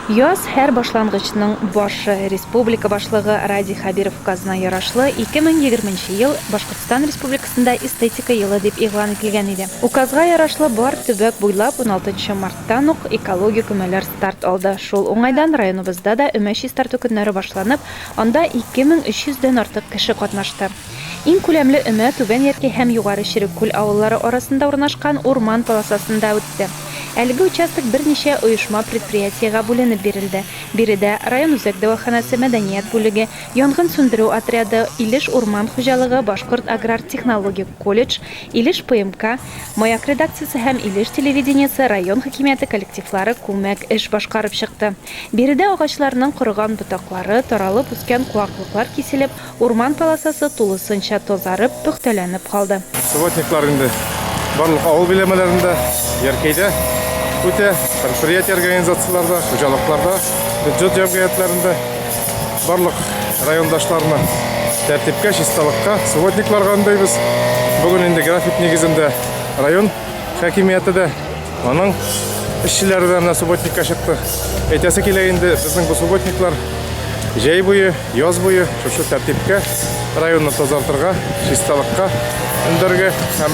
Яз, һәр башлангычның башы. Республика Башлыгы Радий Хәбиров указына ярашлы, 2020 нче ел Башкортстан Республикасында эстетика елы дип игълан ителгән иде. Указга ярашлы, бар төбәк буйлап 16 нчы марттан ук экологик өмәләр старт алды. Шул уңайдан районыбызда да өмә чистарту көннәре башланып, анда 2300 дән артык кеше катнашты. Иң күләмле өмә Түбән Яркәй һәм Югары Череккүл авыллары арасында урнашкан урман полосасында үтте. Әлеге участок берничә оешма-предприятиегә бүленеп бирелде. Биредә, район үзәк дәваханәсе, мәдәният бүлеге, янгын сүндерү отряды, Илеш урман хуҗалыгы, Башкорт аграр-технологик колледж, Илеш ПМК, Маяк редакциясе һәм Илеш телевидениесе район хакимияте коллективлары күмәк эш башкарып чыкты. Биредә агачларның корыган ботаклары, таралып үскән куаклыклар киселеп, Урман полосасы тулысынча тазарып, пөхтәләнеп калды. Субботниклар инде барлык авыл биләмәләрендә, Яркәйдә үтә, предприятие организацияләрдә, хуҗалыкларда, бюджет җәмгыятьләрендә барлык райондашларны тәртипкә, чисталыкка, субботникларга өндәйбез. Бүген инде график нигезендә район хакимияте дә Аның эшчеләре дә менә субботникка чыкты. Әйтәсе килә инде, безнең бу субботниклар җәй буе, яз буе шушы тәртипкә районны тазартырга, чисталыкка өндәргә һәм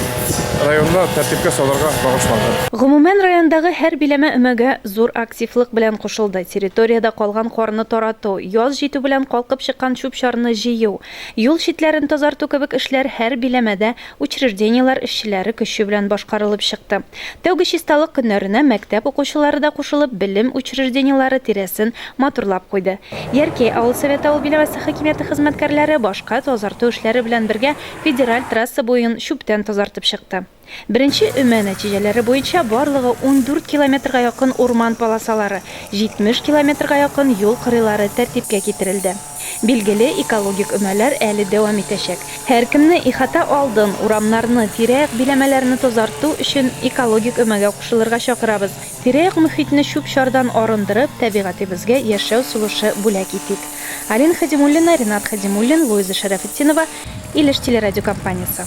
районны тәртипкә салырга багышланган. Гомумән, райондагы һәр биләмә өмәгә зур активлык белән кушылды. Территориядә калган карны тарату, яз җитү белән калкып чыккан чүп-чарны җыю, юл читләрен тазарту кебек эшләр һәр биләмәдә Учреждениеләр эшчеләре көче белән башкарылып чыкты. Тәүге чисталык көннәренә мәктәп укучылары да кушылып, белем учреждениеләре тирәсен матурлап куйды. Яркәй авыл советы авыл биләмәсе хакимияте хезмәткәрләре башка тазарту эшләре белән бергә федераль трасса буен чүптән тазартып чыкты. Беренче өмә нәтиҗәләре буенча барлыгы ундүрт километрга якын урман полосалары, җитмеш километрга якын юл кырыйлары тәртипкә китерелде. Билгеле, экологик өмәләр әле дәвам итәчәк. Һәркемне ихата алдын, урамнарны, тирә-як биләмәләрне тазарту өчен экологик өмәгә кушылырга чакырабыз. Тирә-як мөхитне чүп-чардан арындырып, табигатебезгә яшәү сулышы бүләк итик. Алина Хәдимуллина, Ренат Хәдимуллин, Луиза Шәрәфетдинова, Илеш телерадиокомпаниясе.